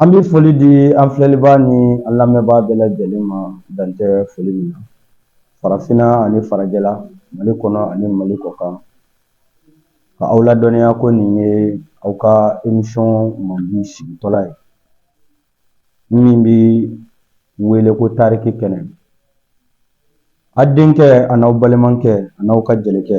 An bɛ foli di an filɛlibaa ni an lamɛnbaa bɛɛ lajɛlen ma dan tɛ foli min na farafinna ani farajɛla mali kɔnɔ ani mali kɔkan ka aw ladɔnniya ko nin ye aw ka emisiyɔn mandi sigitɔla ye min bɛ wele ko tariki kɛnɛ a denkɛ an'aw balimakɛ an'aw ka jelikɛ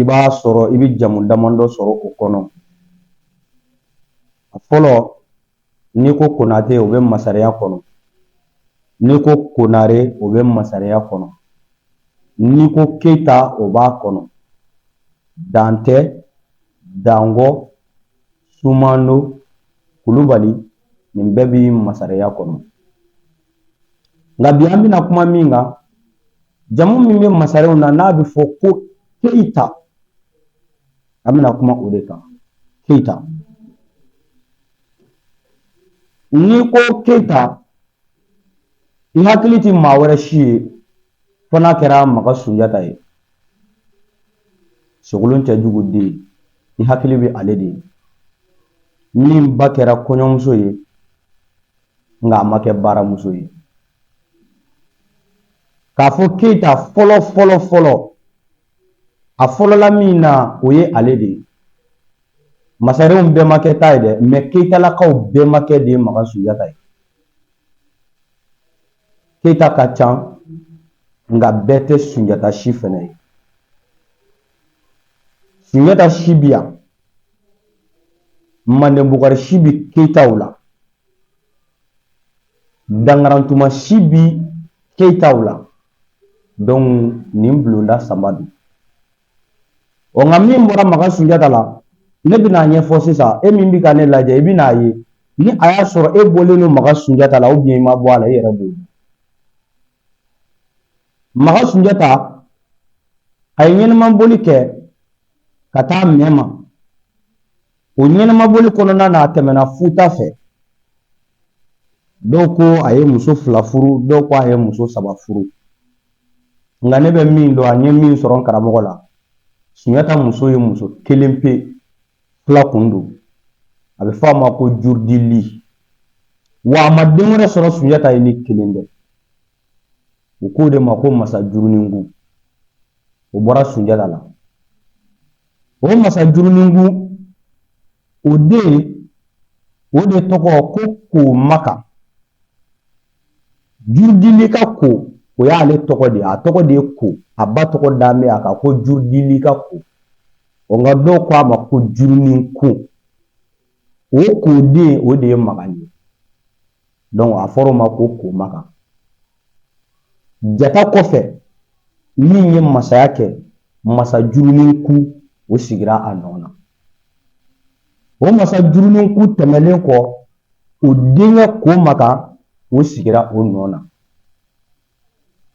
i b'a sɔrɔ i bɛ jamu damadɔ sɔrɔ o kɔnɔ a fɔlɔ n'i ko konate o bɛ masariya kɔnɔ n'i ko konare o bɛ masariya kɔnɔ n'i ko keyita o b'a kɔnɔ dantɛ dangɔ sumano kulubali nin bɛɛ bi masariya kɔnɔ nka bi an bɛna kuma min kan jamu min bɛ masarenw na n'a bɛ fɔ ko keyita an bɛna kuma o de kan keyita n'i ko keyita i hakili tɛ maa wɛrɛ si ye fo n'a kɛra maga sunjata ye sogolon kɛjugu den i hakili bɛ ale de ye min ba kɛra kɔɲɔmuso ye nka a ma kɛ baramuso ye k'a fɔ keyita fɔlɔ fɔlɔ fɔlɔ a fɔlɔla min na o ye ale de ye masarenw bɛɛ makɛ t'a ye dɛ mɛ keyitalakaw bɛɛ makɛ de ye makan sunjata ye keyita ka ca nka bɛɛ tɛ sunjata si fɛnɛ ye sunjata si bi yan manden bukari si bi keyitaw la dankarantuma si bi keyitaw la donc nin bulonda saba don ɔ nka min bɔra makan sunjata la ne bɛna a ɲɛfɔ sisan e min bɛ ka ne lajɛ i bɛna a ye ni a y'a sɔrɔ e bɔlen don makan sunjata la ou bien i ma bɔ a la i yɛrɛ b'o dɔn makan sunjata a ye ɲɛnimaboli kɛ ka taa mɛma O ɲɛnamaboli kɔnɔna na a tɛmɛna futa fɛ dɔw ko a ye muso fila furu dɔw ko a ye muso saba furu nka ne bɛ min dɔn an ye min sɔrɔ n karamɔgɔ la sunjata muso ye muso kelen pe fila kun don a bɛ fɔ a ma ko jurudili wa a ma den wɛrɛ sɔrɔ sunjata ye ni kelen tɛ u k'o de ma ko masa juruningu o bɔra sunjata la o masa juruningu o den o de tɔgɔ ko ko makan jurudili ka ko o y'ale tɔgɔ de ye a tɔgɔ de ye ko a ba tɔgɔ dalen bɛ a kan ko jurudili ka ko nka dɔw ko a ma ko jurunin ko o ko den o de ye makan ye a fɔra o ma ko ko makan jata kɔfɛ min ye masaya kɛ masa jurunin ku o sigira a nɔ na o masa jurunin ku tɛmɛlen kɔ o denkɛ ko makan o sigira o nɔ na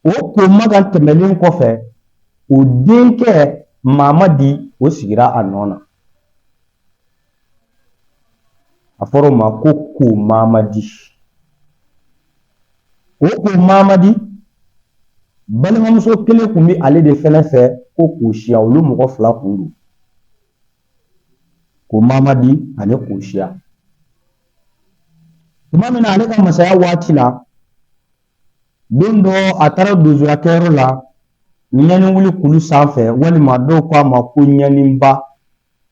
o ko makan tɛmɛlen kɔfɛ o denkɛ mamadi o sigira a nɔ na a fɔra o ma ko ko mamadi o ko mamadi balimamuso kelen kun bɛ ale de fɛnɛ fɛ ko kosiya olu mɔgɔ fila kun don ko mamadi ani kosiya tuma min na ale ka masaya waati la don dɔ a taara donsoya kɛyɔrɔ la ɲani wuli kulu sanfɛ walima dɔw ko a ma ko ɲaniba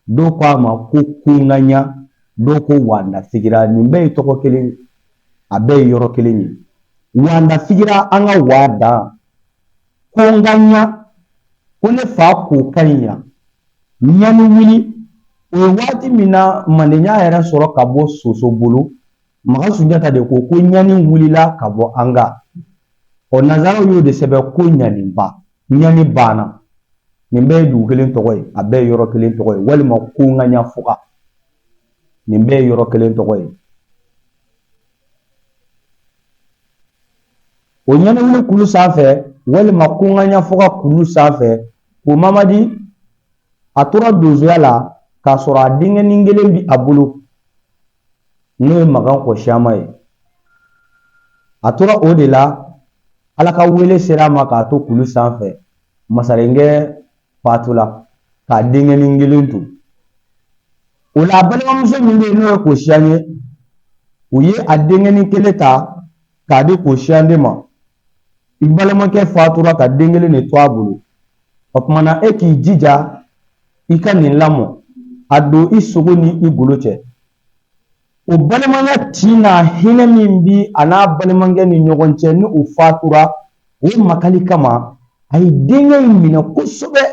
dɔw ko a ma ko kunkanɲa dɔw ko wanda figira nin bɛɛ ye tɔgɔ kelen ye a bɛɛ ye yɔrɔ kelen ye wanda figira an ka waa dan kunkanɲa ko ne fa ko ka ɲi yan ɲani wuli o ye waati min na manden y'a yɛrɛ sɔrɔ ka bɔ soso bolo Makan Sunjata de ko ko ɲani wulila ka bɔ an kan o nanzaraw y'o de sɛbɛn ko ɲaniba ɲani banna nin bɛɛ ye dugu kelen tɔgɔ ye a bɛɛ ye yɔrɔ kelen tɔgɔ ye walima kunkanɲa fuga nin bɛɛ ye yɔrɔ kelen tɔgɔ ye o ɲani wuli kulu sanfɛ walima kunkanɲa fuga kulu sanfɛ ko mamadi a tora donsoya la k'a sɔrɔ a denkɛnin kelen bi a bolo n'o ye makan kɔsiyama ye a tora o de la ala ka wele sera a ma k'a to kulu sanfɛ masarenkɛ fatula k'a denkɛnin kelen to o la a balimamuso min bɛ yen n'o ye kosiya ye u ye a denkɛnin kelen ta k'a di kosiya de ma i balimakɛ fatura ka den kelen de to a bolo o tuma na e k'i jija i ka nin lamɔ a don i sogo ni i golo cɛ o balimanya tin n'a hinɛ min bi a n'a balimakɛ ni ɲɔgɔn cɛ ni o fatura o makali kama a ye denkɛ in minɛ kosɛbɛ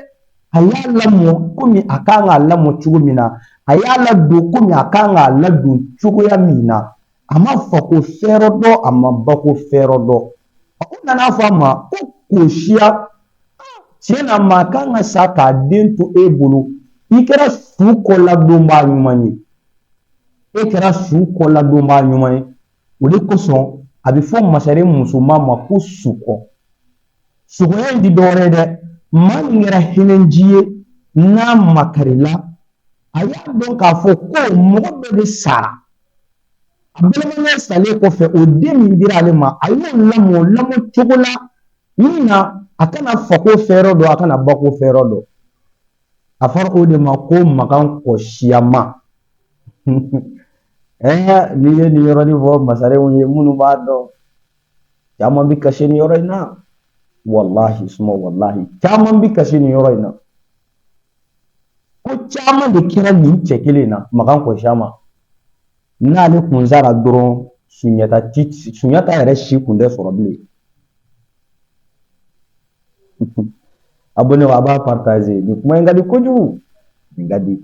a y'a lamɔ komi a kan k'a lamɔ cogo min na a y'a ladon komi a kan k'a ladon cogoya min na a ma fako fɛrɛ dɔn a ma bako fɛrɛ dɔn a ko nana fɔ a ma ko kosiya tiɲɛ na maa kan ka sa k'a den to e bolo i kɛra su kɔladonbaa ɲuman ye e kɛra su kɔladonbaa ɲuman ye o de kosɔn a bɛ fɔ masaren musoman ma ko sukɔ sukɔya in ti dɔwɛrɛ ye dɛ maa min kɛra hinɛnci ye n'a makarila a y'a dɔn k'a fɔ ko mɔgɔ dɔ de sara Balimakɛ salen kɔfɛ o den min dira ale ma a y'o lamɔ lamɔ cogo la min na a kana fako fɛrɛ dɔn a kana bako fɛrɛ dɔn a fɔra o de ma ko makan kɔsiyama ɛɛ n'i ye nin yɔrɔnin fɔ masarenw ye minnu b'a dɔn caman bɛ kasi nin yɔrɔ in na walahi suma walahi caman bɛ kasi nin yɔrɔ in na ko caman de kɛra nin cɛ kelen in na makan kɔsiyama n'ale kun sara dɔrɔn sunjata ti sunjata yɛrɛ si kun tɛ sɔrɔ bilen abɔne a b'a partaze nin kuma in ka di kojugu nin ka di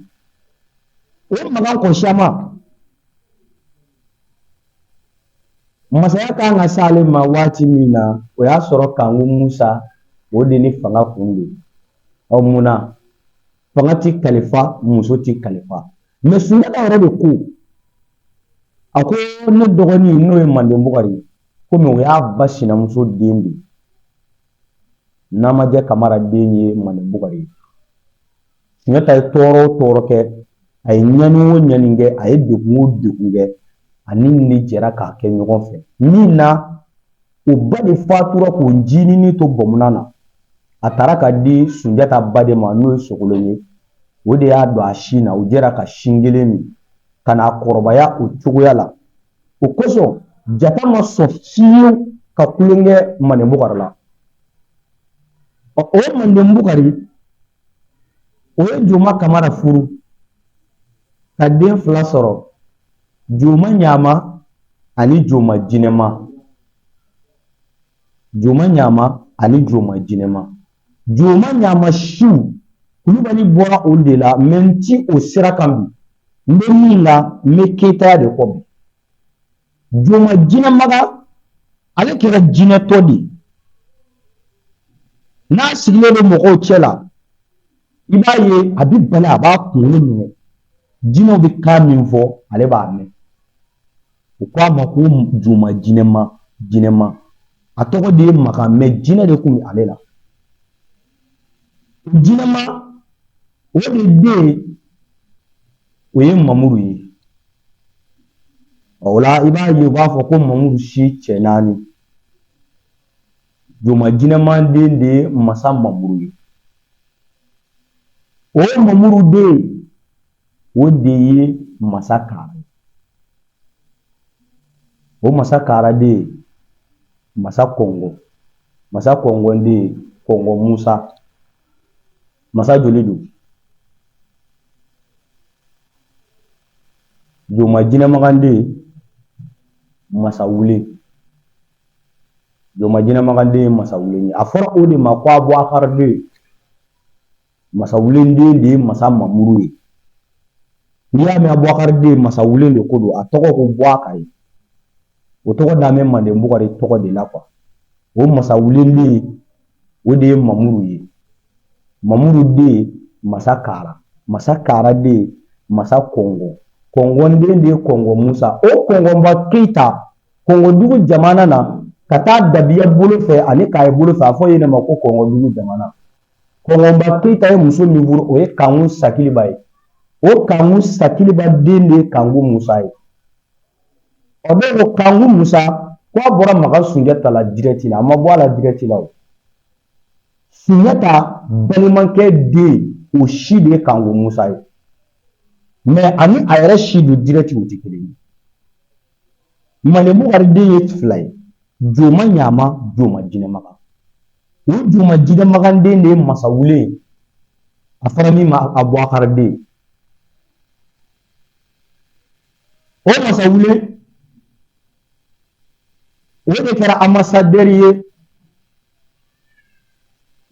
o makan kɔsiyama Masaya kan ka s'ale ma waati min na o y'a sɔrɔ kanku musa o de ni fanga kun don ɔ mun na fanga ti kalifa muso ti kalifa mɛ sunjata yɛrɛ de ko a ko ne dɔgɔnin n'o ye manden bukari ye komi o y'a ba sinamuso den de namajɛ kamara den ye manden bukari ye Sunjata ye tɔɔrɔ o tɔɔrɔ kɛ a ye ɲani o ɲani kɛ a ye degun o degun kɛ ani nin de jɛra k'a kɛ ɲɔgɔn fɛ min na o ba de fatura k'o ncinin to bɔmuna na a taara k'a di Sunjata ba de ma n'o ye Sogolon ye o de y'a don a sin na u jɛra ka sin kelen min ka na kɔrɔbaya o cogoya la o kosɔn jata ma sɔn fiyewu ka kulonkɛ Manden Bukari la o Manden Bukari o ye joma kamara furu ka den fila sɔrɔ joma ɲama ani joma jinɛma joma ɲama ani joma jinɛma joma ɲama siw kulubali bɔra olu de la mɛ n ti o sira kan bi n bɛ min na n bɛ keyitaya de kɔ bi Joma jinɛmaga ale kɛra jinɛtɔ de ye n'a sigilen bɛ mɔgɔw cɛ la i b'a ye a bɛ bala a b'a kunkolo minɛ jinɛw bɛ kan min fɔ ale b'a mɛn u k'a ma ko joma jinɛma jinɛma a tɔgɔ de ye makan mɛ jinɛ de tun bɛ ale la jinɛma o de den o ye mamuru ye o la i b'a ye u b'a fɔ ko mamuru si cɛ naani joma jinɛma den de ye masa mamuru ye o mamuru den o de ye masa kara o masa kara den ye masa kɔngɔ masa kɔngɔ den ye kɔngɔ musa masa joli don joma jinɛmagan den masa wule joma jinɛmagan den masa wule a fɔra o de ma ko abubakari deux masa wule den de ye masa mamuru ye n'i y'a mɛn abubakari deux masa wule de ko don a tɔgɔ ko bubakari o tɔgɔ dalen bɛ manden bukari tɔgɔ de la o masa wule den o de ye mamuru ye Mamuru den masa kara masa kara den masa kɔngɔ kɔngɔ den de ye kɔngɔ musa o kɔngɔba keyita kɔngɔdugu jamana na ka taa dabiya bolo fɛ ani kaye bolo fɛ a fɔ yen ma ko kɔngɔdugu jamana kɔngɔba keyita ye muso min furu o ye kanku sakiliba ye o kanku sakiliba den de ye kanku musa ye a bɛ don kanku musa k'a bɔra makan sunjata la dirɛti a ma bɔ a la dirɛti la Sunjata balimakɛ den o si de ye Kanku Musa ye mɛ ani a yɛrɛ si don dirɛti o tɛ kelen ye Manden Bukari den ye fila ye Joma Ɲama Joma Jinɛmagan o Joma Jinɛmagan den de ye Masawule ye a fɔra min ma Abubakari deux o Masawule o de kɛra anbasadɛri ye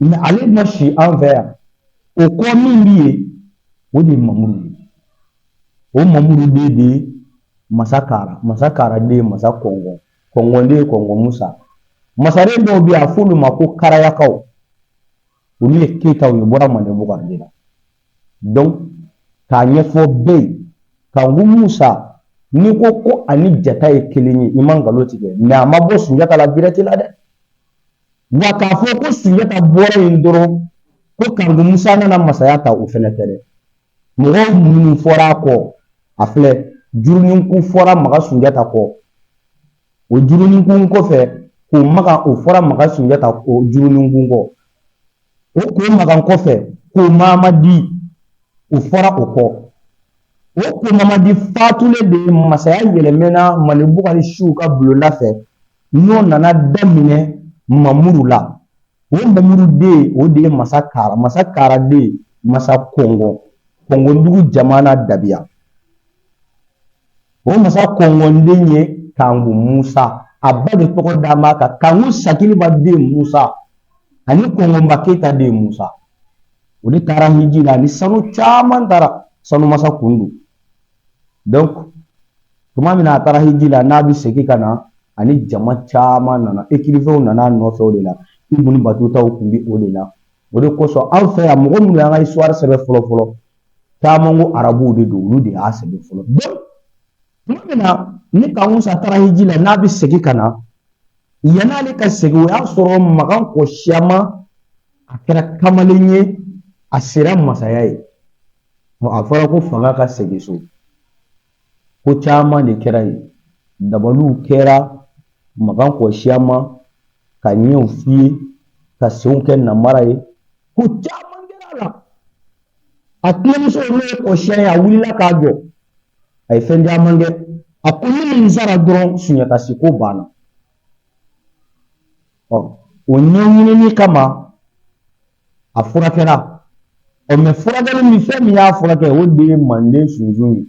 mɛ ale ma si an fɛ yan o kɔ min bɛ yen o de ye mamuru ye o mamuru den de ye masa kara masa kara den ye masa kɔngɔ kɔngɔ den ye kɔngɔ musa masaren dɔw bɛ yen a f'olu ma ko karayakaw olu ye keyitaw ye bɔra manden bukari de la k'a ɲɛfɔ bɛɛ ye kanku musa n'i ko ko ani jata ye kelen ye i ma nkalon tigɛ mais a ma bɔ sunjata la direct la dɛ wa k'a fɔ ko sunjata bɔra yen dɔrɔn ko kanku musa nana masaya ta o fɛnɛ tɛ dɛ mɔgɔ minnu fɔra a kɔ a filɛ juruninkun fɔra maga sunjata kɔ o juruninkun kɔfɛ ko maga o fɔra maga sunjata o juruninkun kɔ o ko makan kɔfɛ ko mamadi o fɔra o kɔ o ko mamadi fatulen de masaya yɛlɛmɛna manden bukari siw ka bulonda fɛ n'o nana daminɛ mamuru la o mamuru den o de ye masa kara masa kara den masa kɔngɔ kɔngɔdugu jamana dabiya o masa kɔngɔ den ye kanku musa a ba de tɔgɔ d'a ma ka kanku sakiliba den musa ani kɔngɔba keyita den musa o de taara hiji la ni sanu caman taara sanu masa kun don donc tuma min na a taara hiji la n'a bɛ segin ka na ani jama caman nana écrivainw nana a nɔfɛ o de la ibunu batutaw tun bɛ o de la o de kosɔn anw fɛ yan mɔgɔ minnu y'an ka histoire sɛbɛn fɔlɔ fɔlɔ caman ko arabuw de don olu de y'a sɛbɛn fɔlɔ tuma min na ni kanku musa taara hiji la n'a bɛ segin ka na yan'ale ka segin o y'a sɔrɔ makan kɔ siyama a kɛra kamalen ye a sera masaya ye a fɔra ko fanga ka segin so Ko caman de kɛra yen dabaliw kɛra makan kɔ siyama ka ɲɛw fiyen ka senw kɛ namara ye ko caman kɛra a la a tɛnɛmuso n'o ye kɔsiya ye a wulila k'a jɔ a ye fɛn caman kɛ a ko ni nin sara dɔrɔn sunjata si ko banna ɔ o ɲɛɲinini kama a furakɛra ɔ mais furakɛli min fɛn min y'a furakɛ o de ye manden sunsun ye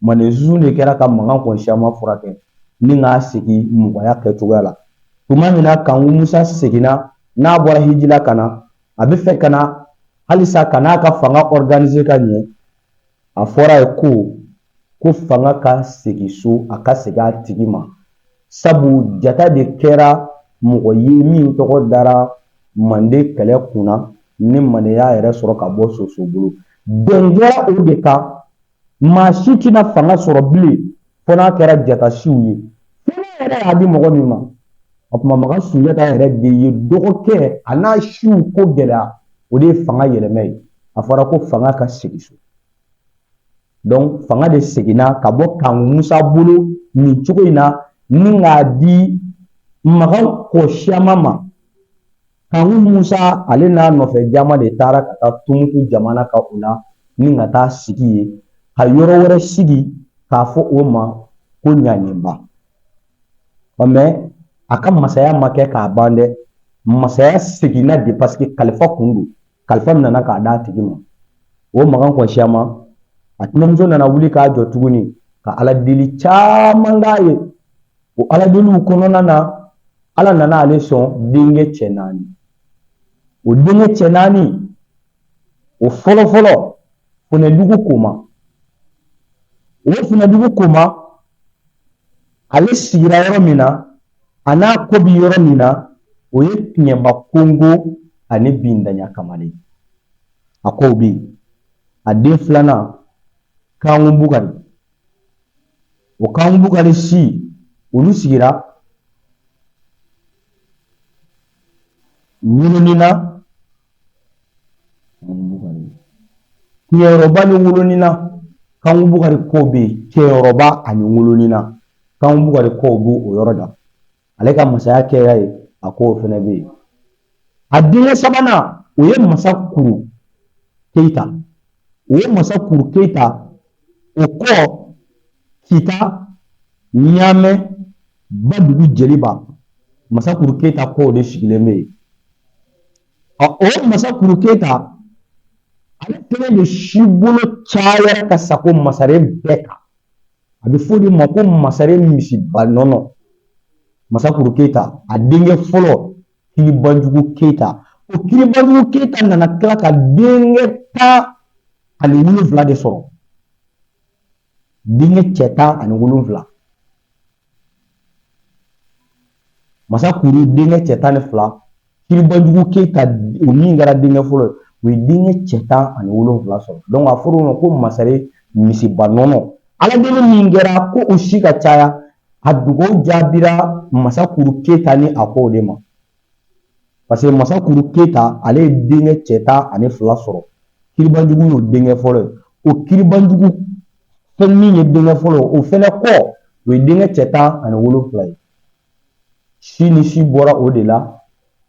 manden sunsun de kɛra ka makan kɔn siyama furakɛ ni k'a segin mɔgɔya kɛcogoya la tuma min na kanku musa seginna n'a bɔra hiji la ka na a bɛ fɛ ka na halisa ka n'a ka fanga organiser ka ɲɛ a fɔr'a ye ko ko fanga ka segin so a ka segin a tigi ma sabu jata de kɛra mɔgɔ ye min tɔgɔ dara manden kɛlɛ kun na ni manden y'a yɛrɛ sɔrɔ ka bɔ soso bolo bɛn kɛra o de kan maa si tɛna fanga sɔrɔ bilen fo n'a kɛra jata siw ye fo n'a yɛrɛ y'a di mɔgɔ min ma o tuma makan sunjata yɛrɛ de ye dɔgɔkɛ a n'a siw ko gɛlɛya o de ye fanga yɛlɛma ye a fɔra ko fanga ka segin so donc fanga de seginna ka bɔ kanku musa bolo nin cogo in na ni k'a di makan kɔsiyama ma Kanku musa ale n'a nɔfɛ jama de taara ka taa tumutu jamana kan u la ni ka taa sigi yen ka yɔrɔ wɛrɛ sigi k'a fɔ o ma ko ɲaninba ɔ mɛ a ka masaya ma kɛ k'a ban dɛ masaya seginna de paseke kalifa kun don kalifa min nana k'a d'a tigi ma o magan kɔsiyama a tɛnɛmuso nana wuli k'a jɔ tuguni ka ala deli caman k'a ye o ala deliw kɔnɔna na ala nana ale sɔn denkɛ cɛ naani o denkɛ cɛ naani o fɔlɔfɔlɔ funɛdugu koma o funɛdugu koma ale sigira yɔrɔ min na a n'a kɔ bi yɔrɔ min na o ye tiɲɛba kongo ani bindanya kamalen a kɔw bɛ yen a den filanan kanku bukari o kanku bukari si olu sigira wolonina Kɛyɔrɔba ni wolonina kanku bukari kɔw bɛ yen kɛyɔrɔba ani wolonina kanku bukari kɔw bɛ o yɔrɔ la ale ka masaya kɛ yen a kɔw fana bɛ yen a denkɛ sabanan o ye masa kuru keyita o ye masa kuru keyita o kɔ kita ɲamɛ badugu jeliba masakuru keyita kɔw de sigilen bɛ yen ɔ o masakuru keyita ale kelen de si bolo cayara ka sagon masaren bɛɛ kan a bɛ fɔ o de ma ko masaren misiba nɔnɔ masakuru keyita a denkɛ fɔlɔ kiribanjugu keyita o kiribanjugu keyita nana tila ka denkɛ tan ani wolonfila de sɔrɔ denkɛ cɛ tan ani wolonfila masa kuru denkɛ cɛ tan ni fila kiribanjugu keyita o min kɛra denkɛ fɔlɔ ye o ye denkɛ cɛ tan ani wolonfila sɔrɔ a fɔra o ma ko masaren misiba nɔnɔ ala deli min kɛra ko o si ka caya a dugawu jaabira masakuru keyita ni a kɔ de ma paseke masakuru keyita ale ye denkɛ cɛ tan ani fila sɔrɔ kiribanjugu y'o denkɛ fɔlɔ ye o kiribanjugu fɛn min ye denkɛ fɔlɔ o fɛnɛ kɔ o ye denkɛ cɛ tan ani wolonfila ye sini si bɔra o de la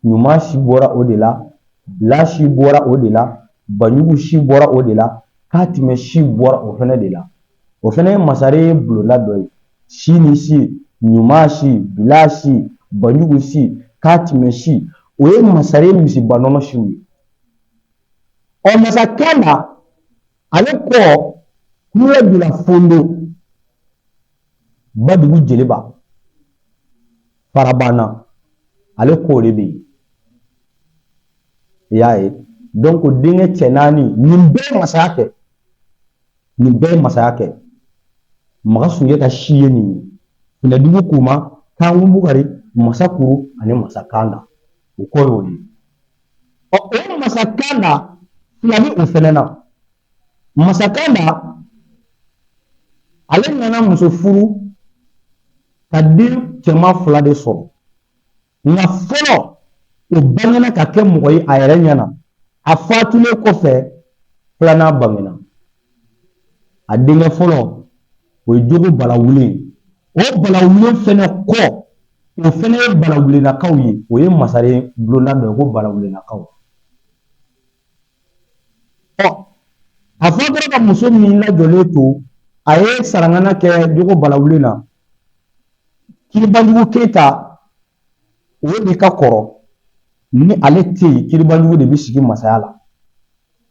ɲuman si bɔra o de la bila si bɔra o de la banjugu si bɔra o de la katimɛ si bɔra o fɛnɛ de la o fana ye masaren bulonda dɔ ye si ni si ɲuman si bila si banjugu si katima si o ye masaren misiba nɔnɔ siw ye ɔ masa kanda ale kɔ kule bila fondo badugu jeliba farabana ale kɔ de bɛ yen i y'a ye donc denkɛ cɛ naani nin bɛɛ masaya kɛ nin bɛɛ ye masaya kɛ magan sunjata si ye nin ye finɛdugu koman kanku bukari masa kuru ani masa kanda o kɔ y'o ye ɔ o masa kanda fila bɛ o fɛnɛ na masa kanda ale nana muso furu ka den cɛman fila de sɔrɔ nka fɔlɔ o bangena ka kɛ mɔgɔ ye a yɛrɛ ɲɛna a fatulen kɔfɛ filanan bangena a denkɛ fɔlɔ o ye jogo balawulen o balawulen fɛnɛ kɔ o fɛnɛ ye balawulenakaw ye o ye masaren bulonda dɔ ye ko balawulenakaw ɔ a fatura ka muso min lajɔlen to a ye sarangana kɛ jogo balawulen na kiribanjugu keyita o de ka kɔrɔ ni ale tɛ yen kiribanjugu de bɛ sigi masaya la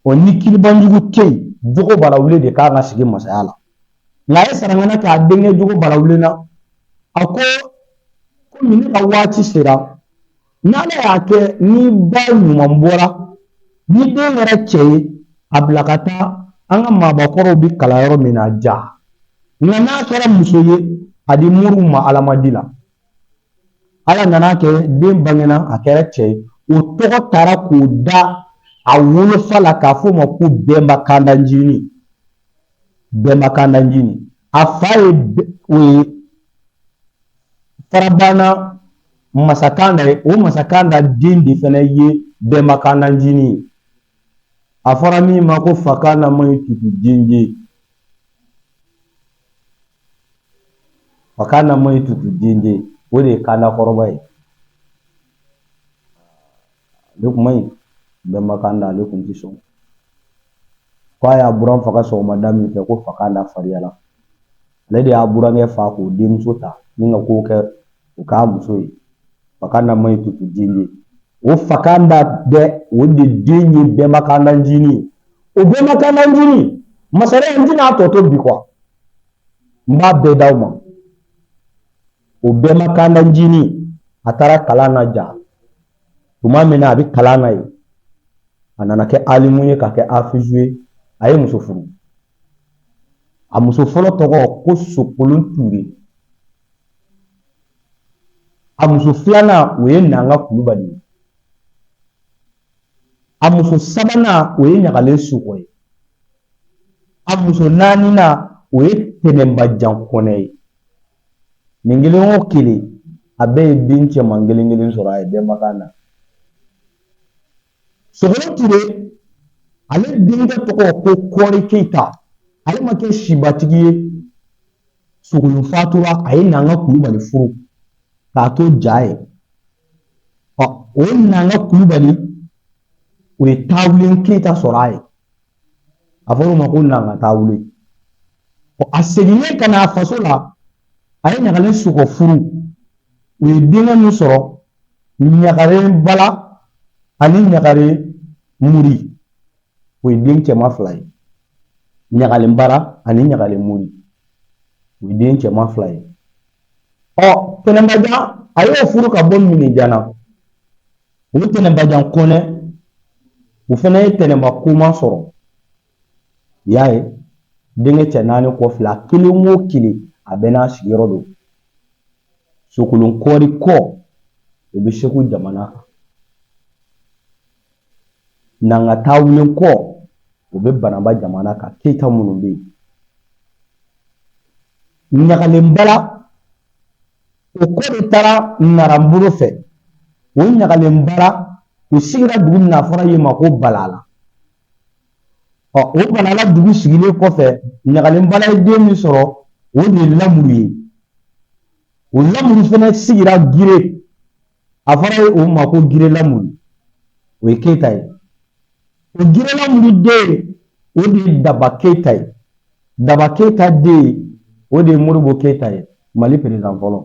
ɔ ni kiribanjugu tɛ yen jogo balawulen de kan ka sigi masaya la nka a ye sarangana kɛ a denkɛ jogo balawulen na a ko komi ne ka waati sera N'ala y'a kɛ n'i ba ɲuman bɔra ni den kɛra cɛ ye a bila ka taa an ka maabakɔrɔw bɛ kalan yɔrɔ min na ja nka n'a kɛra muso ye a di moriw ma alamadi la ala nan'a kɛ den bangena a kɛra cɛ ye o tɔgɔ taara k'o da a wolofa la k'a fɔ o ma ko bɛnba kandanjini bɛnba kandanjini a fa ye o ye farabana masa kanda ye o masa kanda den de fana ye bɛnba kandanjini ye a fɔra min ma ko fakanda man ɲi tutu denje fakanda man ɲi tutu denje o de ye kanda kɔrɔba ye ale kun man ɲi bɛnba kanda ale kun ti sɔn ko a y'a buran faga sɔgɔmada min fɛ ko fakanda fariyala ale de y'a burankɛ fa k'o denmuso ta ni ka ko kɛ o k'a muso ye fakanda man ɲi tutu denje o fakanda bɛ o de den ye bɛnba kandanjini o bɛnba kandanjini masaren n tɛna tɔ to bi kuwa n b'a bɛɛ d'aw ma O bɛnba kanda jinin a taara kalan na ja tuma min na a bɛ kalan na yen a nana kɛ alimu ye ka kɛ afizu ye a ye muso furu a muso fɔlɔ tɔgɔ ko sokolon ture a muso filanan o ye nanga kulubali ye a muso sabanan o ye ɲagalen sokɔ ye a muso naaninan o ye tɛnɛnbajan kɔnɛ ye Nin kelen o kelen a bɛɛ ye den cɛman kelen kelen sɔrɔ a ye bɛnba kanda sogolon ture ale denkɛ tɔgɔ ko kɔɔri keyita ale ma kɛ sibatigi ye sogolon fatura a ye nanga kulubali furu k'a to ja ye ɔ o nanga kulubali o ye taawulen keyita sɔrɔ a ye a fɔra o ma ko nanga taawulen a seginnen ka na a faso la a ye ɲagalen sokɔ furu o ye denkɛ min sɔrɔ ɲagalen bala ani ɲagalen muri o ye den cɛman fila ye ɲagalen bara ani ɲagalen muri o ye den cɛman fila ye ɔ tɛnɛnbajan a y'o furu ka bɔ minijana O tɛnɛnbajan kɔnɛ o fana ye tɛnɛnba koma sɔrɔ i y'a ye denkɛ cɛ naani kɔ filɛ kelen o kelen a bɛɛ n'a sigiyɔrɔ don sokolon kɔɔri kɔ o bɛ segu jamana kan nanga taawulen kɔ o bɛ bananba jamana kan keyita minnu bɛ yen ɲagalen bala o kɔ de taara nara bolo fɛ o ɲagalen bara o sigira dugu min na a fɔra yen ma ko balala ɔ o balala dugu sigilen kɔfɛ ɲagalen bala ye den min sɔrɔ o de ye lamuru ye o lamuru fana sigira gire a fɔra ye o ma ko gire lamuru o ye keyita ye o gire lamuru den o de ye daba keyita ye daba keyita den o de ye moribo keyita ye mali perezidan fɔlɔ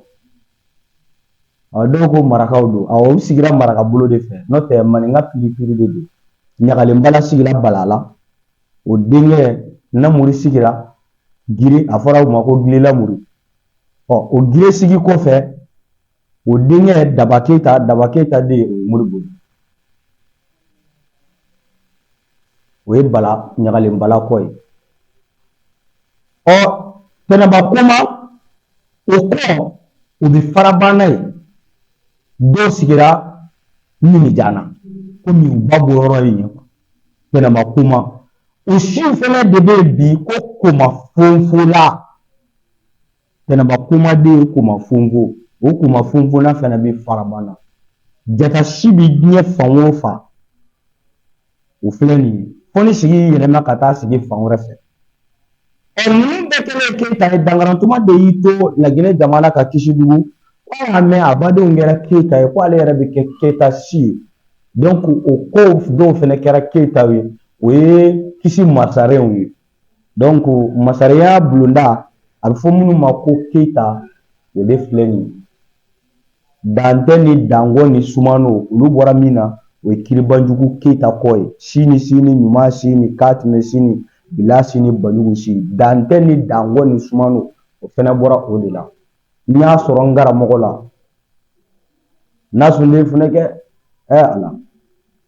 dɔw ko marakaw don awɔ u sigira maraka bolo de fɛ n'o tɛ maninka piripiri de don ɲagalen bala sigira balala o denkɛ lamuru sigira gire a fɔra o ma ko gire lamuru ɔ o gire sigi kɔfɛ O denkɛ daba keyita daba keyita den o ye moribo o ye bala ɲagalen bala kɔ ye ɔ tɛnɛnba koma o kɔ o bɛ farabana ye dɔw sigira minijana komi u ba bɔyɔrɔ ye yen tɛnɛnba koma o siw fana de bɛ yen bi ko koma fonfola Tɛnɛnba koma den ye koma fonfo o koma fonfola fana bɛ farabana jata si bɛ diɲɛ fan o fan o filɛ nin ye fo ni sigi yɛlɛma ka taa sigi fan wɛrɛ fɛ ɛ ninnu bɛɛ kɛlen keyita ye dankarantuma de y'i to laginɛ jamana ka kisidugu ko y'a mɛn a badenw kɛra keyita ye ko ale yɛrɛ bɛ kɛ keyita si ye donc o kɔ dɔw fana kɛra keyitaw ye o ye kisi masarenw ye donc masarenya bulonda a bɛ fɔ minnu ma ko keyita o de filɛ nin ye dantɛ ni dankɔ ni sumano olu bɔra min na o ye kiribanjugu keyita kɔ ye sini sini ɲuman sini katime sini bila sini banjugu sini dantɛ ni dankɔ ni sumano o fana bɔra o de la n y'a sɔrɔ n karamɔgɔ la nasun den funɛkɛ ɛ ala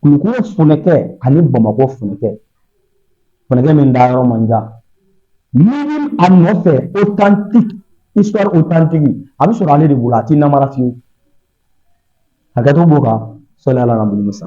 kulukɔrɔ funɛkɛ ani bamakɔ funɛkɛ funɛkɛ min da yɔrɔ man jan minnu a nɔfɛ authentique histoire authentique a bɛ sɔrɔ ale de bolo a tɛ namara fiyewu hakɛto b'o kan sɔli ala nabi musa